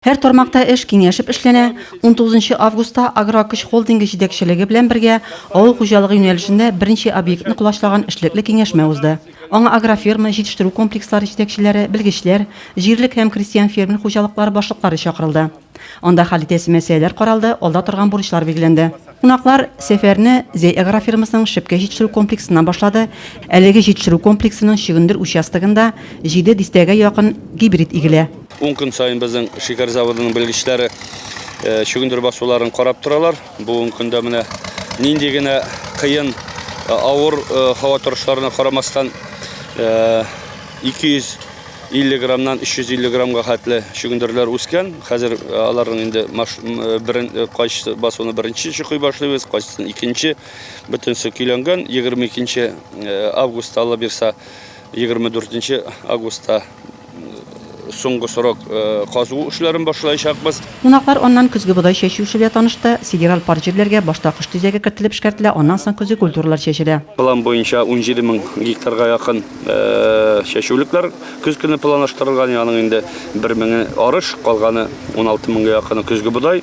Һәр тармакта эш киңәшеп эшләнә. 19 августта Агрокөч холдингы җитәкчелеге белән бергә авыл хуҗалыгы юнәлешендә берничә объектны колачлаган эшлекле киңәшмә узды. Аңа агроферма, җитештерү комплекслары җитәкчеләре, белгечләр, җирлек һәм крестьян-фермер хуҗалыклары башлыклары чакырылды. Анда хәл итәсе мәсьәләләр каралды, алда торган бурычлар билгеләнде. Кунаклар сәфәрне Зәй агрофермасының Шепкә җитештерү комплексыннан башлады. Әлеге җитештерү комплексының Чөгендер участогында җиде дистәгә якын гибрид игелә. Ун көн саен безнең шикәр заводының белгечләре чөгендер басуларын карап торалар. Бүгенге көндә менә нинди генә кыен авыр һава торышларына карамастан 250 граммнан 350 граммга хәтле чөгендерләр үскән. Хәзер аларның инде берен кайсы басуны беренче чукый башлыйбыз, кайсысын икенче. Бөтенесе көйләнгән. 22 августта алла бирса 24 августта соңгы срок казу эшләрен башлаячакбыз. Кунаклар аннан көзге бодай чәчү эше белән танышты. Сидераль парк җирләргә башта кыш төзеге кертелеп эшкәртелә, аннан соң көзге культуралар чәчелә. План буенча 17 мең гектарга якын чәчүлекләр көз көне планлаштырылган, аның инде бер меңе арыш, калганы 16 меңгә якыны көзге бодай.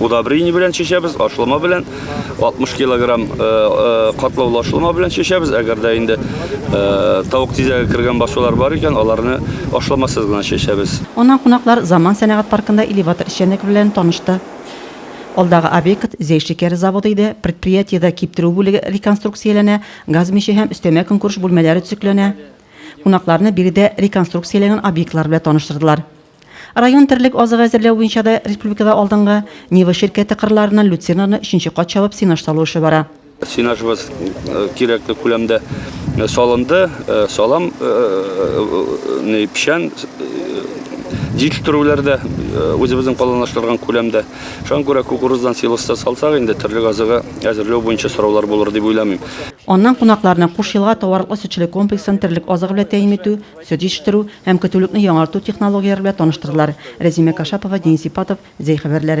удобрение белән чәчәбез, ашлама белән 60 килограмм э, э, катлаулы ашлама белән чәчәбез. Әгәр дә инде э, тавык тизәге кергән басулар бар икән, аларны ашламасыз гына чәчәбез. Аннан кунаклар Заман сәнәгать паркында элеватор эшчәнлеге белән танышты. Алдагы объект Зәй шикәре заводы иде. Предприятиедә киптерү бүлеге реконструкцияләнә, газ миче һәм өстәмә көнкүреш бүлмәләре төзекләнә. Кунакларны биредә реконструкцияләнгән объектлар белән таныштырдылар. Район терлек азыгы әзерләү буенча да республикада алдынгы. Нива ширкәте кырларыннан люцернаны өченче кат чабып сенаж салу эше бара. Сенажыбыз э, кирәкле күләмдә э, салынды. Э, салам печән җитештерүләр дә үзебезнең планлаштырган күләмдә. Шуңа күрә кукуруздан силоста салсак инде терлек азыгы әзерләү буенча сораулар булыр дип уйламыйм. Аннан кунакларны Куш елга товарлык сөтчелек комплексын терлек азыгы белән тәэмин итү Сөт җитештерү һәм көтүлекне яңарту технологияләре белән таныштырдылар. Рәзимә Кашапова, Денис Ипатов, Зәй хәбәрләре.